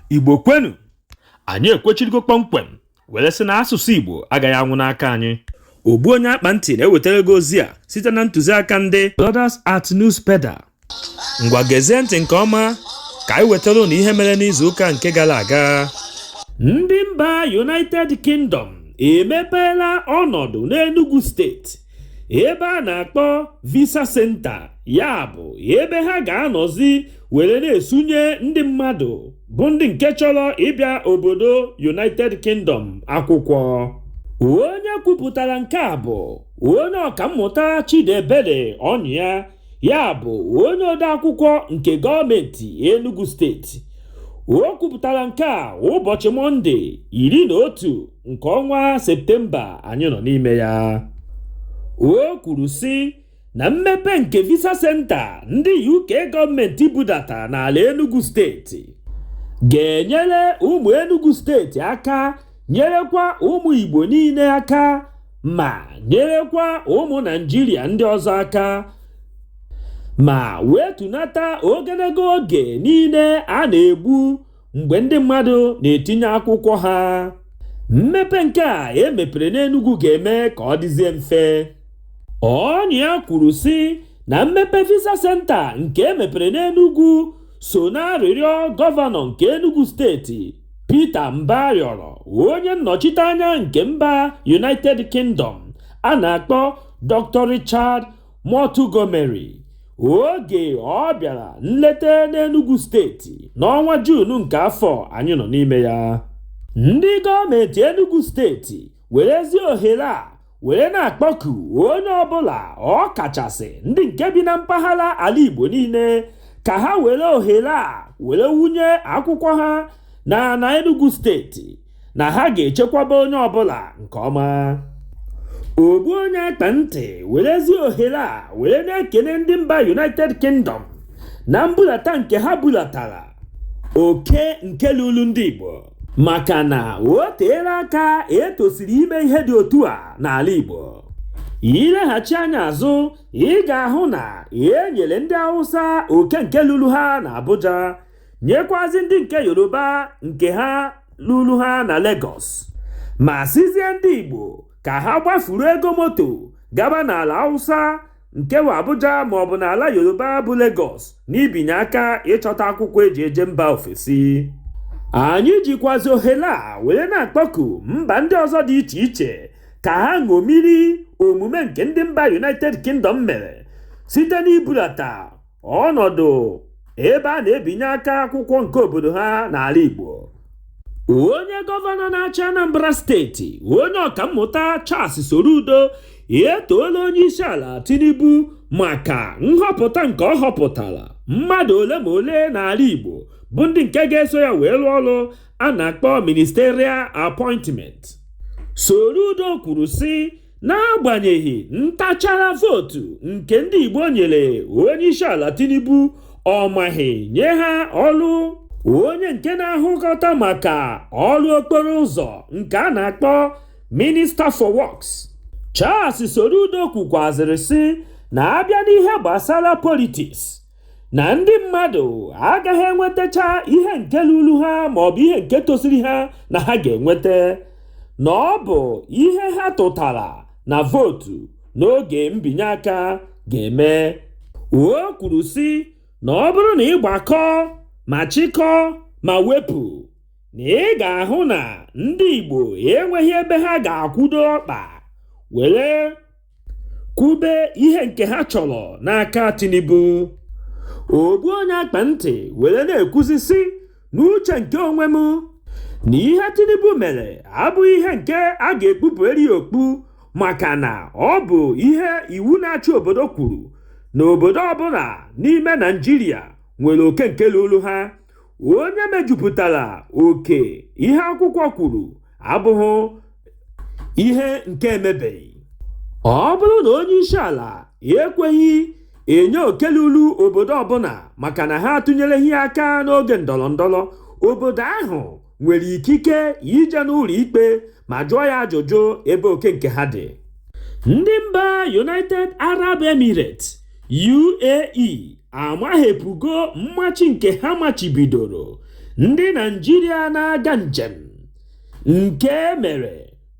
igbo kwenu anyị ekwechirigo kpọmkwem were sị na asụsụ igbo agaghị anwụ n'aka anyị ogbu onye akpa ntị na-ewetara gị ozi a site na ntụziaka ndị Brothers at Newspeda ngwa gezie ntị nke ọma ka anyị wetara ụnụ ihe mere n'izu ụka nke gara aga ndị mba United Kingdom emepeela ọnọdụ n'Enugu steeti ebe a na-akpọ visa senta ya bụ ebe ha ga-anọzi were na-esunye ndị mmadụ bụ ndị nke chọrọ ịbịa obodo United Kingdom akwụkwọ onye kwupụtara nke a bụ onye ọkammụta Chidiebere Ọnyịa ya bụ onye odeakwụkwọ nke gọọmenti Enugu steeti o kwupụtara nke a ụbọchị mọnde iri na otu nke ọnwa septemba anyị nọ n'ime ya o kwuru sị na mmepe nke visa senta ndị uk gọọmenti budata n'ala enugu steeti ga-enyere ụmụ enugu steeti aka nyerekwa ụmụ igbo niile aka ma nyerekwa ụmụ naijiria ndị ọzọ aka ma wetunata ogologo oge niile a na-egbu mgbe ndị mmadụ na-etinye akwụkwọ ha mmepe nke a emepere n'Enugu ga-eme ka ọ dịzie mfe Ọnyịa kwuru sị na mmepe visa senta nke emepere n'Enugu so n'arịrịọ gọvanọ nke Enugu steeti Peter Mba rịọrọ onye nnọchiteanya nke mba United Kingdom a na-akpọ Dr. Richard Montgomery oge ọ bịara nleta n'Enugu steeti n'ọnwa Juun nke afọ anyị nọ n'ime ya ndị gọọmenti Enugu steeti werezi ohere a were na-akpọku onye ọbụla ọ kachasị ndị nke bi na mpaghara ala Igbo niile ka ha were ohere a were wunye akwụkwọ ha na na Enugu steeti na ha ga-echekwaba onye ọbụla nke ọma ogbu onye akpa ntị werezi ohere a were na-ekele ndị mba united kingdom na mbulata nke ha bulatara oke nke lulu ndị igbo maka na o teela aka etosiri ime ihe dị otu a n'ala igbo i leghachi anya azụ ị ga-ahụ na e nyere ndị hausa oke nke lulu ha na abuja nyekwazi ndị nke yoruba nke ha lulu ha na Lagos ma sịzie ndị igbo ka ha gbafuru ego moto gaba n'ala hausa nke wụ abuja maọbụ n'ala yoruba bụ Lagos n'ibinye aka ịchọta akwụkwọ eji eje mba ofesi anyị jikwazi ohere a were na-akpọku mba ndị ọzọ dị iche iche ka ha ṅomiri omume nke ndị mba united kingdom mere site n'ibulata ọnọdụ ebe a na-ebinye aka akwụkwọ nke obodo ha n'ala Igbo onye gọvanọ na-achị Anambra steeti onye ọkammụta Charles Soludo etoola onye isi ala Tinubu maka nhọpụta nke ọ họpụtara mmadụ ole ma ole n'ala Igbo bụ ndị nke ga-eso ya wee rụọ ọrụ a na-akpọ ministerial appointment Soludo kwuru sị n'agbanyeghị ntachara vootu nke ndị Igbo nyere onye isi ala Tinubu ọ maghị nye ha ọrụ onye nke na-ahụkọta maka ọrụ okporo ụzọ nke a na-akpọ minister for Works Charles Soludo kwukwazịrị sị na a bịa n'ihe gbasara politiks na ndị mmadụ agaghị enwetacha ihe nke lulu ha ma ọ bụ ihe nke tosiri ha na ha ga-enweta na ọ bụ ihe ha tụtara na vootu n'oge mbinye aka ga-eme o kwuru sị na ọ bụrụ na ị gbakọ ma chịkọ ma wepụ na ị ga-ahụ na ndị Igbo enweghị ebe ha ga-akwụdo ọkpa were kwube ihe nke ha chọrọ n'aka Tinubu ogbu onye akpa ntị were na-ekwuzi sị n'uche nke onwe m na ihe Tinubu mere abụghị ihe nke a ga-ekpupụrụ ya okpu maka na ọ bụ ihe iwu na-achị obodo kwuru na obodo ọbụla n'ime Naịjirịa nwere oke nke lulu ha onye mejupụtara oke ihe akwụkwọ kwuru abụghị ihe nke e mebeghị ọ bụrụ na onye isi ala ekweghị enye oke lulu obodo ọbụla maka na ha atụnyereghị aka n'oge ndọrọ ndọrọ obodo ahụ nwere ikike ije n'ụlọ ikpe ma jụọ ya ajụjụ ebe oke nke ha dị ndị mba united arab emirates uae amaghepụgo mmachi nke ha machibidoro ndị naijiria na-aga njem nke mere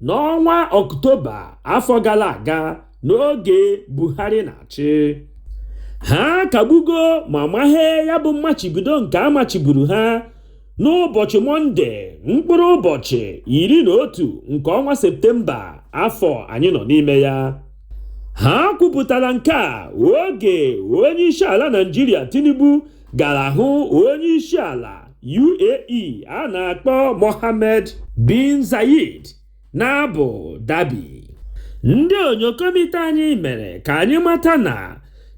n'ọnwa ọktoba afọ gara aga n'oge buhari na-achị ha kagbugo ma mahe ya bụ mmachibido nke a machiburu ha n'ụbọchị mọnde mkpụrụ ụbọchị iri na otu nke ọnwa septemba afọ anyị nọ n'ime ya ha kwupụtara nke a oge onye isi ala naijiria tinubu gara hụ onye isi ala UAE a na-akpọ Mohammed bin Zayed n'Abu Dhabi ndị onyokomite anyị mere ka anyị mata na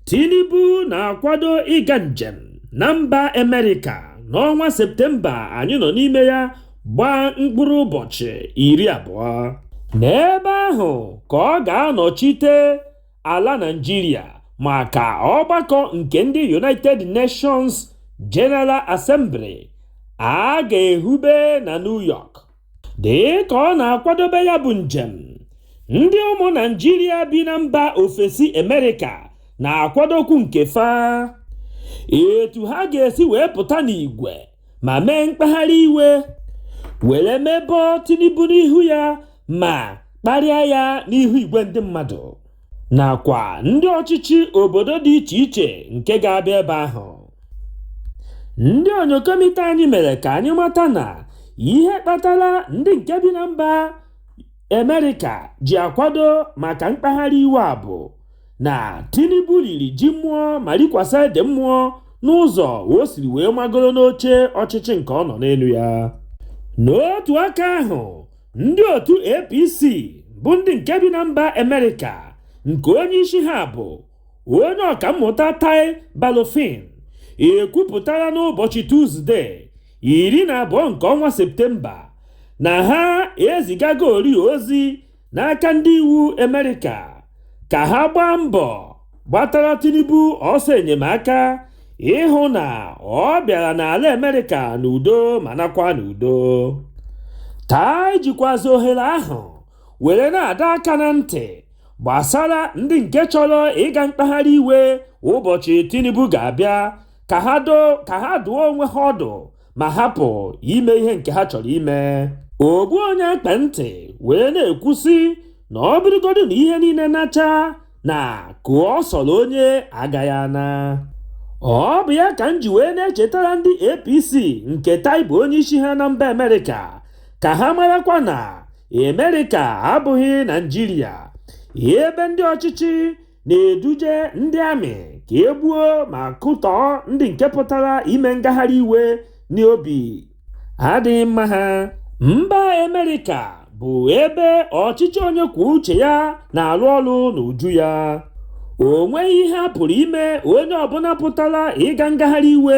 Tinubu na-akwado ịga njem na mba Amerịka n'ọnwa Septemba anyị nọ n'ime ya gbaa mkpụrụ ụbọchị iri abụọ n'ebe ahụ ka ọ ga-anọchite ala Naịjirịa maka ọgbakọ nke ndị United Nations General Assembly a ga-ehube na New York dị ka ọ na-akwadobe ya bụ njem ndị ụmụ Naịjirịa bi na mba ofesi Amerịka na-akwadokwu nke fa etu ha ga-esi wee pụta n'igwe ma mee mkpagharị iwe were mebọ Tinubu n'ihu ya ma kparịa ya n'ihu igwe ndị mmadụ nakwa ndị ọchịchị obodo dị iche iche nke ga-abịa ebe ahụ ndị onyokomite anyị mere ka anyị mata na ihe kpatara ndị nke bi na mba Amerịka ji akwado maka mkpagharị iwe a bụ na Tinubu riri ji mmụọ ma rikwasa ede mmụọ n'ụzọ o siri wee magoro n'oche ọchịchị nke ọ nọ n'elu ya. N'otu aka ahụ, ndị otu APC bụ ndị nke bi na mba Amerịka nke onye isi ha bụ onye ọkammụta Tai Balofin ekwupụtara n'ụbọchị Tuzde iri na abụọ nke ọnwa Septemba na ha ezigagori ozi n'aka ndị iwu Amerịka ka ha gbaa mbọ gbatara Tinubu ọsọ enyemaka ịhụ na ọ bịara n'ala Amerịka n'udo ma naakwa n'udo. Tai jikwazị ohere ahụ were na-adọ aka na ntị gbasara ndị nke chọrọ ịga mkpagharị iwe ụbọchị Tinubu ga-abịa ka ha dụọ onwe ha ọdụ ma hapụ ime ihe nke ha chọrọ ime ogbu onye ekpe ntị wee na-ekwusi na ọ bụrụgodu na ihe niile nachaa na ka ọ sọrọ onye agaghị ana ọ bụ ya ka m ji wee na-echetara ndị APC nke Tai bụ onye isi ha na mba Amerịka ka ha marakwa na Amerịka abụghị Naịjirịa ebe ndị ọchịchị na-eduje ndị amị ka e gbuo ma kụtọọ ndị nke pụtara ime ngagharị iwe n'obi adịghị mma ha mba Amerịka bụ ebe ọchịchị onye kwuo uche ya na-arụ ọrụ n'uju ya o nweghị ihe a pụrụ ime onye ọbụla pụtara ịga ngagharị iwe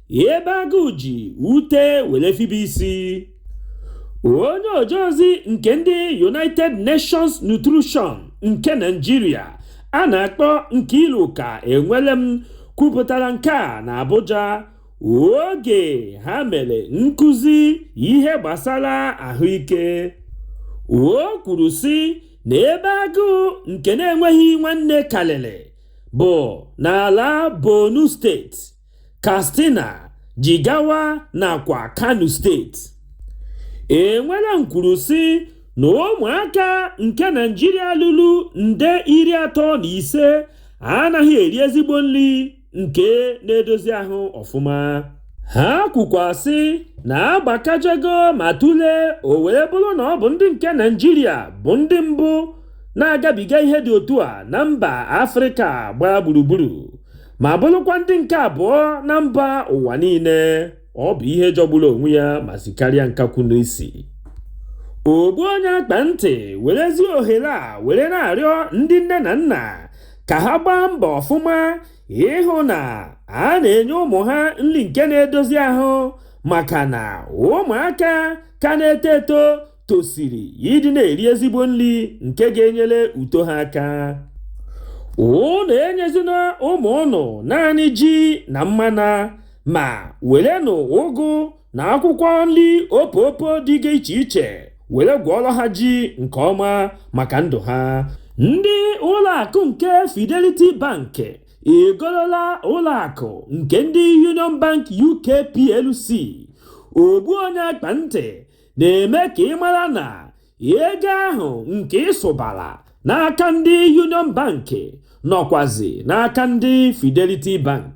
ebe agụụ ji ute were fibe isi onye oje ozi nke ndị united nations nutrition nke Naịjirịa a na-akpọ Nkeiruka Enwelum kwupụtara nke a na abuja oge ha mere nkụzi ihe gbasara ahụike o kwuru sị na ebe agụụ nke na-enweghị nwanne karịrị bụ n'ala borno steeti Katsina, Jigawa nakwa Kano steeti. Enwela nkwuru sị na ụmụaka nke Naịjirịa ruru nde iri atọ na ise anaghị eri ezigbo nri nke na-edozi ahụ ọfụma. Ha kwukwasị na agbakajego ma tụlee o wee bụrụ na ọ bụ ndị nke Naịjirịa bụ ndị mbụ na-agabiga ihe dị otu a na mba Afrịka gbaa gburugburu. ma bụrụkwa ndị nke abụọ na mba ụwa niile ọ bụ ihe jọgburu onwe ya ma sikarịa nkakwu n'isi ogbu onye akpa ntị werezi ohere a were na-arịọ ndị nne na nna ka ha gbaa mbọ ọfụma ịhụ na a na-enye ụmụ ha nri nke na-edozi ahụ maka na ụmụaka ka na-eto eto tosiri ịdị na-eri ezigbo nri nke ga-enyere uto ha aka ụnụ enyezina ụmụ ụnụ naanị ji na mmanụ ma werenụ ụgụ na akwụkwọ nri opopo dị iche iche were gwọọrọ ha ji nke ọma maka ndụ ha ndị ụlọ akụ nke Fidelity Bank egolola ụlọ akụ nke ndị Union Bank UK PLC ogbu onye akpa ntị na-eme ka ị mara na ego ahụ nke ị sụbara n'aka ndị Union Bank nọkwazi n'aka ndị Fidelity Bank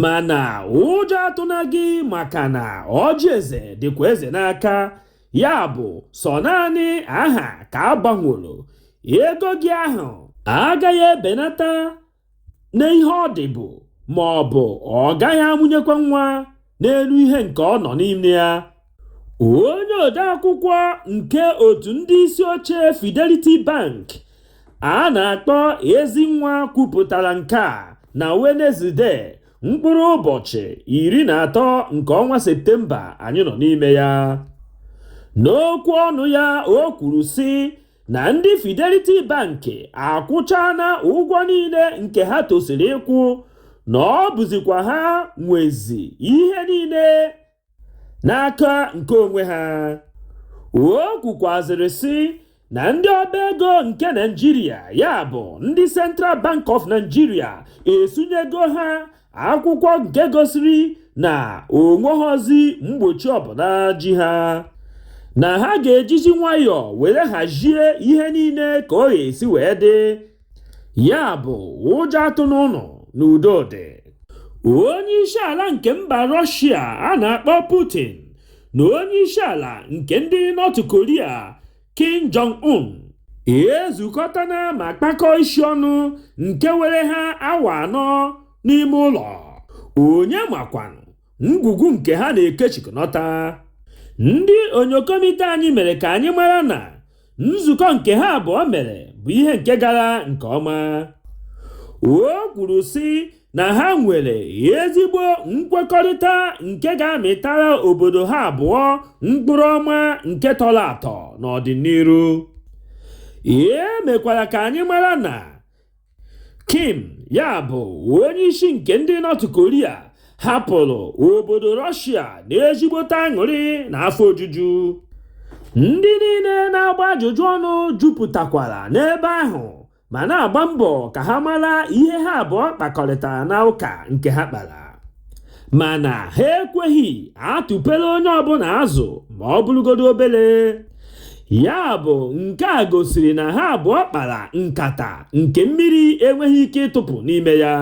mana ụjọ atụna gị maka na ọjị eze dịkwa eze n'aka ya bụ sọ naanị aha ka a gbanworo ego gị ahụ agaghị ebenata n'ihe ọ dịbu ma ọ bụ ọ gaghị amụnyekwa nwa n'elu ihe nke ọ nọ n'ime ya onye odeakwụkwọ nke otu ndị isi oche Fidelity Bank a na-akpọ Ezinwa kwupụtara nke a na Wenezdee mkpụrụ ụbọchị iri na atọ nke ọnwa Septemba anyị nọ n'ime ya n'okwu ọnụ ya o kwuru sị na ndị Fidelity Bank akwụchana ụgwọ niile nke ha tosiri ịkwụ na ọ bụzikwa ha nwezi ihe niile n'aka nke onwe ha o kwukwazịrị sị na ndị ọba ego nke naịjirịa ya bụ ndị central bank of nigeria esunyego ha akwụkwọ nke gosiri na o nweghọzi mgbochi ọbụla ji ha na ha ga-ejizi nwayọọ were hazie ihe niile ka ọ ga-esi wee dị ya bụ ụjọ atụna ụnụ na udo dị onye isi ala nke mba rọshia a na-akpọ putin na onye isi ala nke ndị nọt koria Kim Jong-un ezukọtana ma kpakọọ isi ọnụ nke were ha awa anọ n'ime ụlọ onye makwanụ ngwugwu nke ha na-ekechikọnọta ndị onyokomite anyị mere ka anyị mara na nzukọ nke ha abụọ mere bụ ihe nke gara nke ọma o kwuru sị na ha nwere ezigbo nkwekọrịta nke ga-amịtara obodo ha abụọ mkpụrụ ọma nke tọrọ atọ n'ọdịnihu e mekwara ka anyị mara na kim ya bụ onye isi nke ndị North Korea hapụrụ obodo Russia na ezigbote aṅụrị na afọ ojuju ndị niile na-agba ajụjụ ọnụ jupụtakwara n'ebe ahụ ma na-agba mbọ ka ha mara ihe ha abụọ kpakọrịtara na ụka nke ha kpara mana ha ekweghị atụpere onye ọbụla azụ ma ọ bụrụgodo obere ya bụ nke a gosiri na ha abụọ kpara nkata nke mmiri enweghị ike ịtụpụ n'ime ya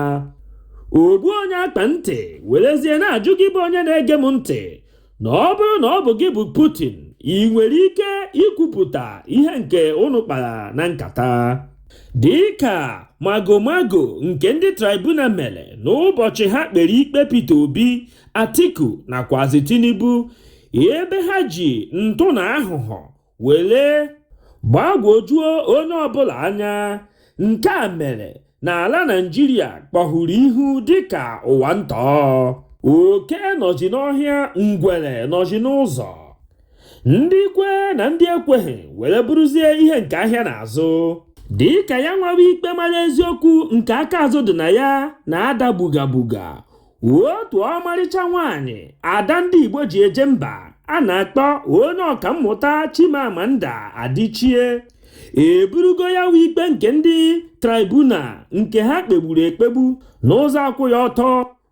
ogbu onye akpa ntị werezie na-ajụ gị bụ onye na-ege m ntị na ọ bụrụ na ọ bụ gị bụ Putin i nwere ike ikwupụta ihe nke unu kpara na nkata dịka magomago nke ndị tribunal mere n'ụbọchị ha kpere ikpe Peter Obi Atiku nakwazi Tinubu ebe ha ji ntụ na aghụghọ were gbagwojuo onye ọbụla anya nke a mere na ala Naịjirịa kpọhụrụ ihu dịka ụwa ntọ oke nọzi n'ọhịa ngwere nọzi n'ụzọ ndị kwe na ndị ekweghị were bụrụzie ihe nke ahịa na-azụ dị ka ya nwawa ikpe mara eziokwu nke aka azụ dị na ya na-ada buga buga otu ọmarịcha nwaanyị ada ndị igbo ji eje mba a na-akpọ onye ọka mmụta chimamanda adichie eburugo ya nwa ikpe nke ndị tribunal nke ha kpegburu ekpegbu n'ụzọ akwụghị ọtọ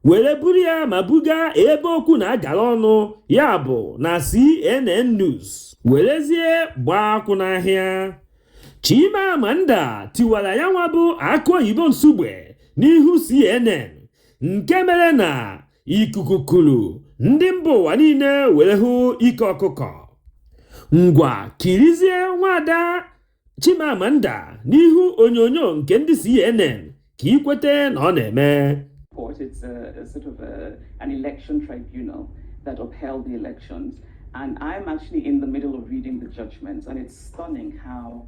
were buru ya ma buga ebe okwu na-agara ọnụ ya bụ na cnn news werezie gbaa akwụ n'ahịa chimamanda tiwara ya nwa bụ akụ oyibo nsugbe n'ihu cnn nke mere na ikuku kuru ndị mba ụwa niile were hụ ike ọkụkọ ngwa kirizie nwada Chimamanda n'ihu onyonyo nke ndị CNN ka i kweta na ọ na-eme court. It's a, a sort of a, an election tribunal that upheld the elections. And I'm actually in the middle of reading the judgments, and it's stunning how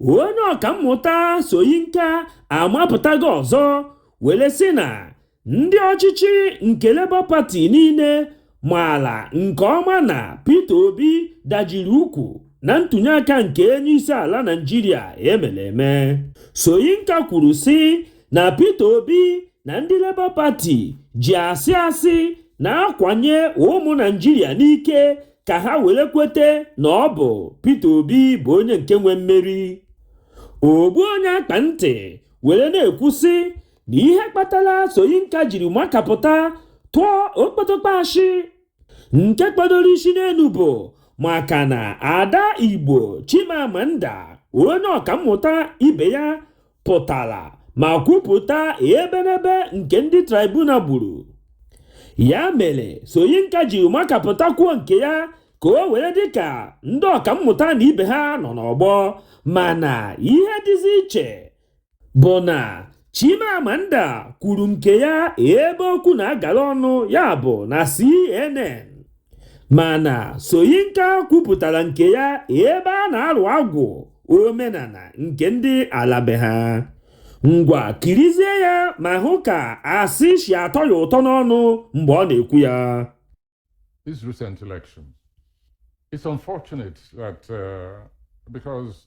onye ọkammụta soyinka amapụtago ọzọ were sị na ndị ọchịchị nke Labour Party niile maala nke ọma na Peter Obi dajiri ukwu na ntụnye aka nke onye isi ala Naịjirịa emere eme Soyinka kwuru sị na Peter Obi na ndị Labour Party ji asị asị na-akwanye ụmụ Naịjirịa n'ike ka ha were kwete na ọ bụ Peter Obi bụ onye nke nwe mmeri ogbu onye akpa ntị were na-ekwu sị na ihe kpatara Soyinka jiri makapụta tụọ okpotokpo ashị nke kpọdoro isi n'elu bụ maka na ada Igbo Chimamanda onye ọkammụta ibe ya pụtara ma kwupụta ebenebe nke ndị tribunal gburu ya mere Soyinka jiri makapụta kwuo nke ya ka o were dị ka ndị ọkammụta na ibe ha nọ n'ọgbọ mana ihe dịzi iche bụ na Chimamanda kwuru nke ya ebe okwu na-agara ọnụ ya bụ na CNN Mana Soyinka kwupụtara nke ya ebe a na-arụ agwụ omenala nke ndị ala be ha. Ngwa kirizie ya ma hụ ka asị si atọ ya ụtọ n'ọnụ mgbe ọ na-ekwu ya. This recent election, it's unfortunate that uh, because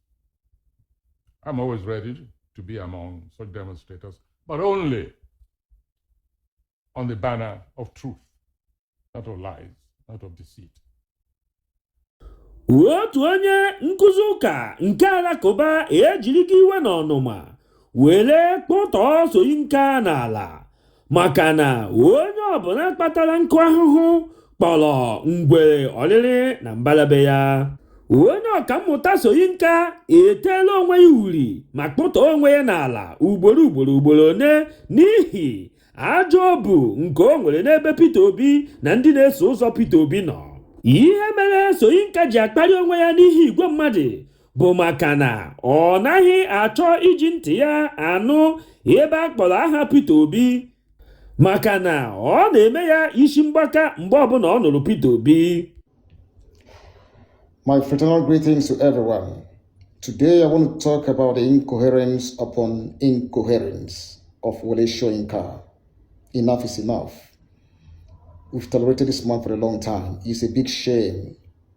I'm always ready to be among such demonstrators, but only on the banner of truth, not of lies, not of deceit. otu onye nkuzi ụka nke alakụba ejirigo iwe na ọnụma were kpụtọọ soyinka n'ala maka na onye ọbụla kpatara nkụ ahụhụ kpọrọ ngwere ọrịrị na mbala be ya onye ọkammụta soyinka eteela onwe ya uri ma kpụtọọ onwe ya n'ala ugboro ugboro ugboro one n'ihi ajọ obu nke o nwere n'ebe peter obi na ndị na-eso ụzọ peter obi nọ ihe mere soyinka ji akparị onwe ya n'ihu igwe mmadụ bụ maka na ọ naghị achọ iji ntị ya anụ ebe a kpọrọ aha Peter Obi maka na ọ na-eme ya isi mgbaka mgbe ọbụla ọ nụrụ Peter Obi My fraternal greetings to everyone. Today I want to talk about the incoherence upon incoherence of Wole Soyinka. Enough is enough. We've tolerated this man for a long time. It's a big shame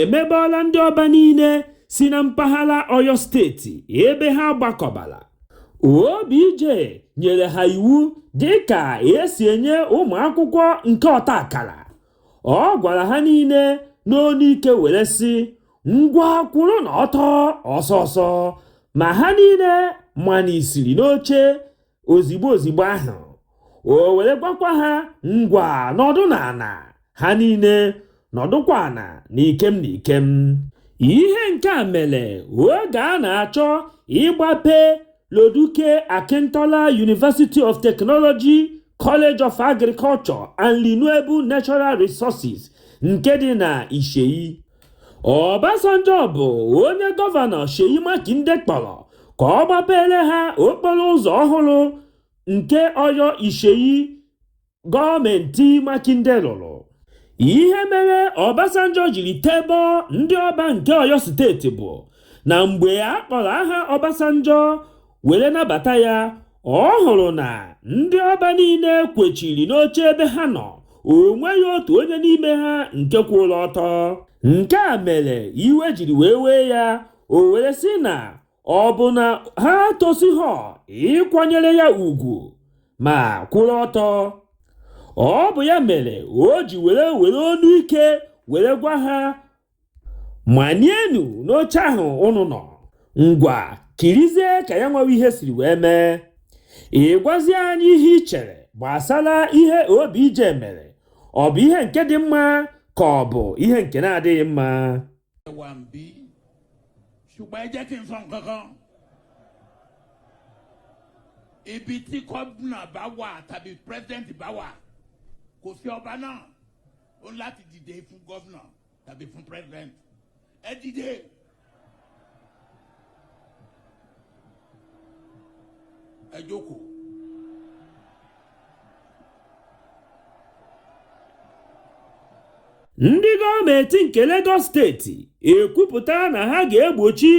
emebọọla ndị ọba niile si na mpaghara Ọyọ steeti ebe ha gbakọbala OBJ nyere ha iwu dịka esi enye ụmụ akwụkwọ nke ọta akara ọ gwara ha niile n'onu ike were sị ngwa kwụrụ n'ọtọ ọsọ ọsọ ma ha niile manisiri n'oche ozigbo ozigbo ahụ o were gwakwa ha ngwa nọdụ n'ala ha niile nọdụkwa ana n'ikem n'ikem ihe nke a mere oge a na-achọ ịgbape loduke akintola university of technology college of agriculture and renewable natural resources nke dị na iseyin Obasanjo bụ onye Gọvanọ Seyi Makinde kpọrọ ka ọ gbapeere ha okporo ụzọ ọhụrụ nke Oyo Iseyin gọọmenti Makinde rụrụ. Ihe mere Obasanjo jiri tebọọ ndị Ọba nke Oyo steeti bụ na mgbe a kpọrọ aha Obasanjo were nabata ya ọ hụrụ na ndị ọba niile kwechiri n'oche ebe ha nọ o nweghị otu onye n'ime ha nke kwụrụ ọtọ nke a mere iwe jiri wee wee ya o were sị na ọ bụ na ha tosighọ ịkwanyere ya ugwu ma kwụrụ ọtọ ọ bụ ya mere o ji were were onu ike were gwa ha manienu n'oche ahụ unu nọ ngwa kirizie ka ya nwewe ihe siri wee mee ị gwazie anyị ihe i chere gbasara ihe OBJ mere ọ bụ ihe nke dị mma ka ọ bụ ihe nke na-adịghị mma wà ń bí ṣùgbọ́n ẹ jẹ́ kí n sọ nǹkan kan ibi tí gómìnà bá wà tàbí president bá wà kò sí ọba náà ó láti dìde fún gọ́vnà tàbí fún president ẹ dìde. ẹ jókòó. ndị gọọmenti nke Lagos steeti ekwupụtala na ha ga-egbochi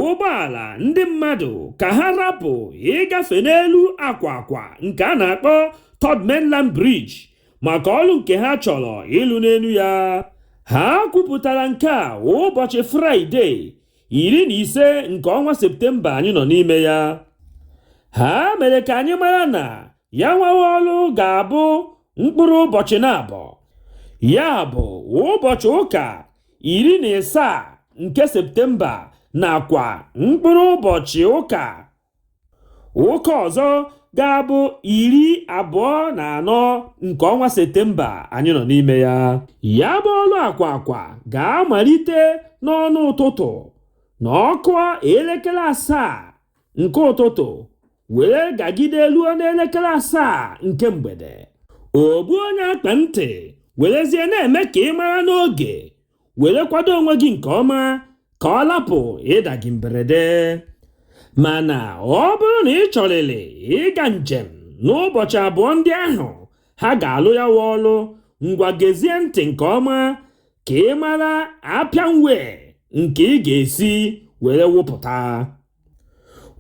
ụgbọala ndị mmadụ ka ha rapụ ịgafe n'elu akwa akwa nke a na-akpọ Third Mainland Bridge maka ọrụ nke ha chọrọ ịlụ n'elu ya ha kwupụtara nke a ụbọchị fraịde iri na ise nke ọnwa septemba anyị nọ n'ime ya ha mere ka anyị mara na ya nwawa ọrụ ga-abụ mkpụrụ ụbọchị naabọ ya bụ ụbọchị ụka iri na ịsaa nke septemba nakwa mkpụrụ ụbọchị ụka ụka ọzọ ga-abụ iri abụọ na anọ nke ọnwa Septemba anyị nọ n'ime ya ya bụ ọrụ akwa akwa ga-amalite n'ọnụ ụtụtụ na ọ kụọ elekere asaa nke ụtụtụ were gagide ruo n'elekere asaa nke mgbede ogbu onye akpa ntị werezie na-eme ka ị mara n'oge were kwado onwe gị nke ọma ka ọ lapụ ịda gị mberede mana ọ bụrụ na ị chọrịrị ịga njem n'ụbọchị abụọ ndị ahụ ha ga-alụ ya wa ọlụ ngwa gezie ntị nke ọma ka ị mara apian way nke ị ga-esi were wụpụta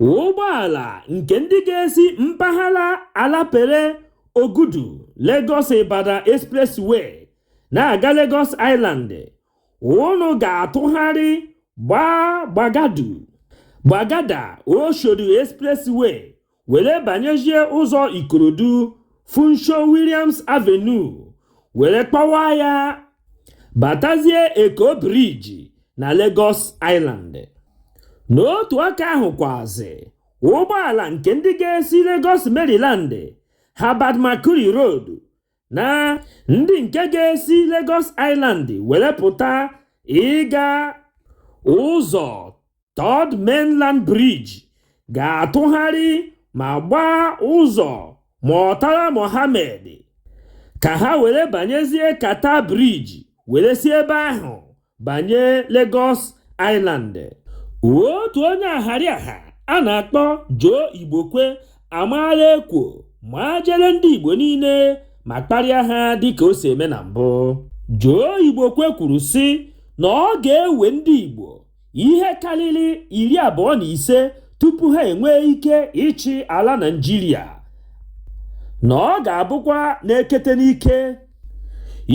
ụgbọala nke ndị ga-esi mpaghara Alapere Ogudu Lagos Ibadan Expressway na-aga Lagos Island unu ga-atụgharị gbaa gbagadu gbagada Oshodi Expressway were banyezie ụzọ Ikorodu Funsho Williams Avenue were kpọwa ya batazie Eko Bridge na Lagos Island n'otu aka ahụ kwazi ụgbọala nke ndị ga-esi Lagos Maryland Herbert Macaulay Road na ndị nke ga-esi Lagos Island were pụta ịga ụzọ Third Mainland Bridge ga-atụgharị ma gbaa ụzọ Murtala Mohammed ka ha were banyezie Carter Bridge were si ebe ahụ banye Lagos Island otu onye ahariaha a na-akpọ Joe Igbokwe amaala ekwo ma jere ndị Igbo niile ma kparịa ha dịka o si eme na mbụ Joe Igbokwe kwuru sị na ọ ga-ewe ndị Igbo ihe karịrị iri abụọ na ise tupu ha enwee ike ịchị ala Naịjirịa na ọ ga-abụkwa n'ekete n'ike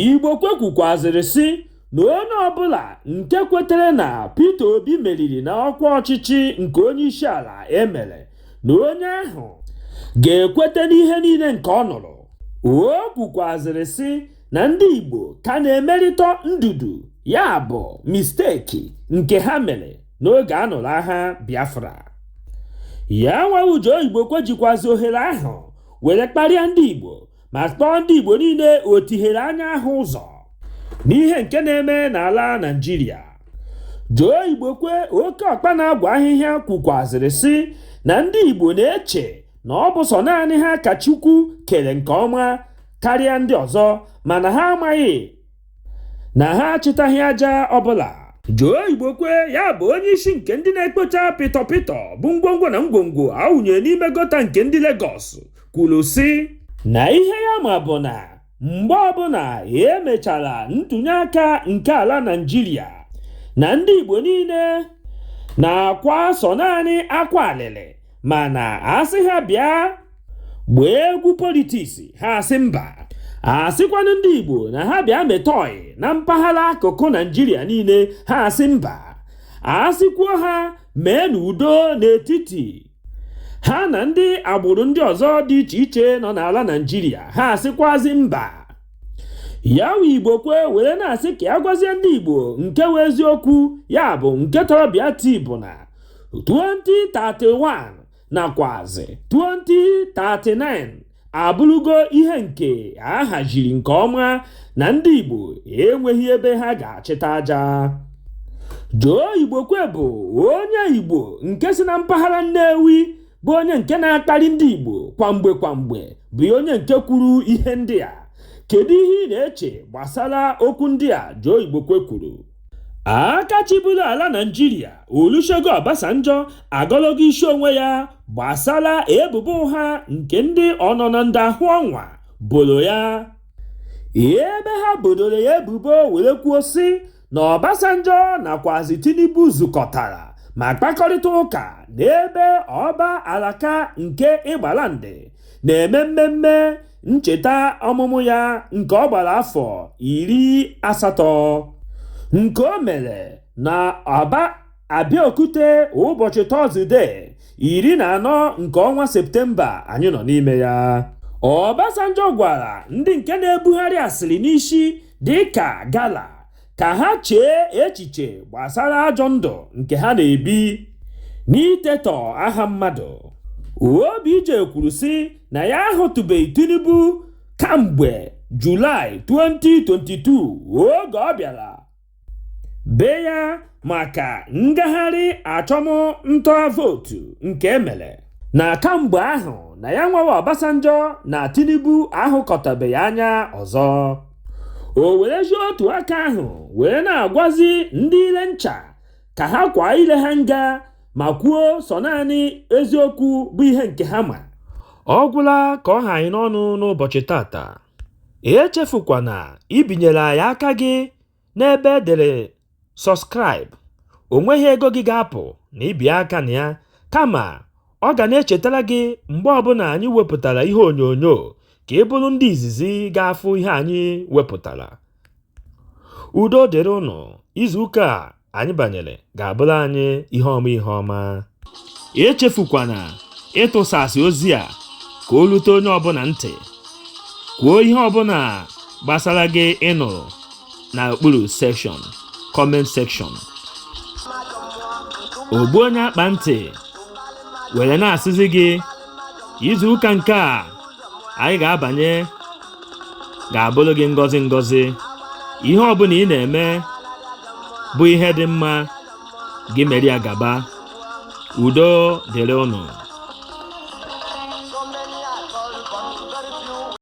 Igbokwe kwukwazịrị sị na onye ọbụla nke kwetere na Peter Obi meriri na ọkwa ọchịchị nke onyeisiala e mere na onye ahụ ga-ekwete n'ihe niile nke ọ nụrụ. O kwukwazịrị sị na ndị Igbo ka na-emerịtọ ndudu ya bụ mistake nke ha mere n'oge a nụrụ agha Biafra. Yanwa Joe Igbokwe jikwazị ohere ahụ were kparịa ndị Igbo ma kpọọ ndị Igbo niile otihere anya ahụ ụzọ n'ihe nke na-eme n'ala Naịjirịa Joe Igbokwe oke ọkpa na-agwa ahịhịa kwukwazịrị sị na ndị Igbo na-eche na ọ bụ sọ naanị ha ka Chukwu kere nke ọma karịa ndị ọzọ mana ha amaghị na ha achịtaghị aja ọbụla Joe Igbokwe ya bụ onye isi nke ndị na-ekpocha pịtọ pịtọ bụ ngwongwo na ngwongwo awụnyere n'ime gọta nke ndị Lagos kwuru sị na ihe ya ma bụ na mgbe ọbụla emechara ntụnye aka nke ala Naịjirịa na ndị Igbo niile na-akwa sọ naanị akwa alịlị mana asị ha bịa gbaa egwu politiks ha asị mba asịkwanụ ndị Igbo na ha bịa meta ọyị na mpaghara akụkụ Naijiria niile ha asị mba asịkwuo ha mee na udo n'etiti ha na ndị agbụrụ ndị ọzọ dị iche iche nọ n'ala Naijiria ha asịkwazi mba ya wụ Igbokwe were na-asị ka ya gwazie ndị Igbo nke wụ eziokwu ya bụ nke tọrọ bịa tii bụ na 2031 nakwazi 2039 abụrụgo ihe nke a haziri nke ọma na ndị Igbo enweghị ebe ha ga-achịta aja Joe Igbokwe bụ onye Igbo nke si na mpaghara Nnewi bụ onye nke na-akparị ndị Igbo kwa mgbe kwa mgbe bụ onye nke kwuru ihe ndị a kedu ihe ị na-eche gbasara okwu ndị a Joe Igbokwe kwuru aka chịburu ala naijiria olusegun obasanjo agọlọgo isi onwe ya gbasara ebubo ụgha nke ndị ọnọnọ ndị ahụ ọnwa boro ya ebe ha bodoro ya ebubo were kwuo sị na obasanjo nakwazi tinubu zukọtara ma kpakọrịta ụka n'ebe ọba Alake nke Egbaland na-eme mmemme ncheta ọmụmụ ya nke ọ gbara afọ iri asatọ nke o mere na Aba Abeokuta ụbọchị Tọzde iri na anọ nke ọnwa Septemba anyị nọ n'ime ya Obasanjo gwara ndị nke na-ebugharị asịrị n'isi dịka gala ka ha chee echiche gbasara ajọ ndụ nke ha na-ebi n'itetọ aha mmadụ OBJ kwuru sị na ya ahụtụbeghị Tinubu kamgbe Julaị 2022 oge ọ bịara be ya maka ngagharị achụmnta vootu nke emere na kamgbe ahụ na ya nwawa Obasanjo na Tinubu ahụkọtabeghị anya ọzọ. o werezi otu aka ahụ wee na-agwazi ndị ile ncha ka ha kwaa ile ha nga ma kwuo sọ naanị eziokwu bụ ihe nke ha ma ọ gwụla ka ọ ha anyị n'ọnụ n'ụbọchị tata echefukwana ibinyere anyị aka gị n'ebe edere Subscribe, o nweghị ego gị ga-apụ na ibi aka na ya, kama ọ ga na-echetara gị mgbe ọbụla anyị wepụtara ihe onyonyo ka ị bụrụ ndị izizi ga-afụ ihe anyị wepụtara. Udo dịrị ụnụ, izu ụka a anyị banyere ga-abụrụ anyị ihe ọma ihe ọma. Echefukwana ịtụsasị ozi a ka o rute onye ọbụla ntị. Kwuo ihe ọbụla gbasara gị ị nụrụ. na okpuru sekshọn kọment sekshọn ogbu onye akpa ntị were na-asịzi gị izu ụka nke a anyị ga-abanye ga-abụrụ gị ngọzi ngọzi ihe ọbụla ị na-eme bụ ihe dị mma gị mere ya gaba udo dịrị ụnụ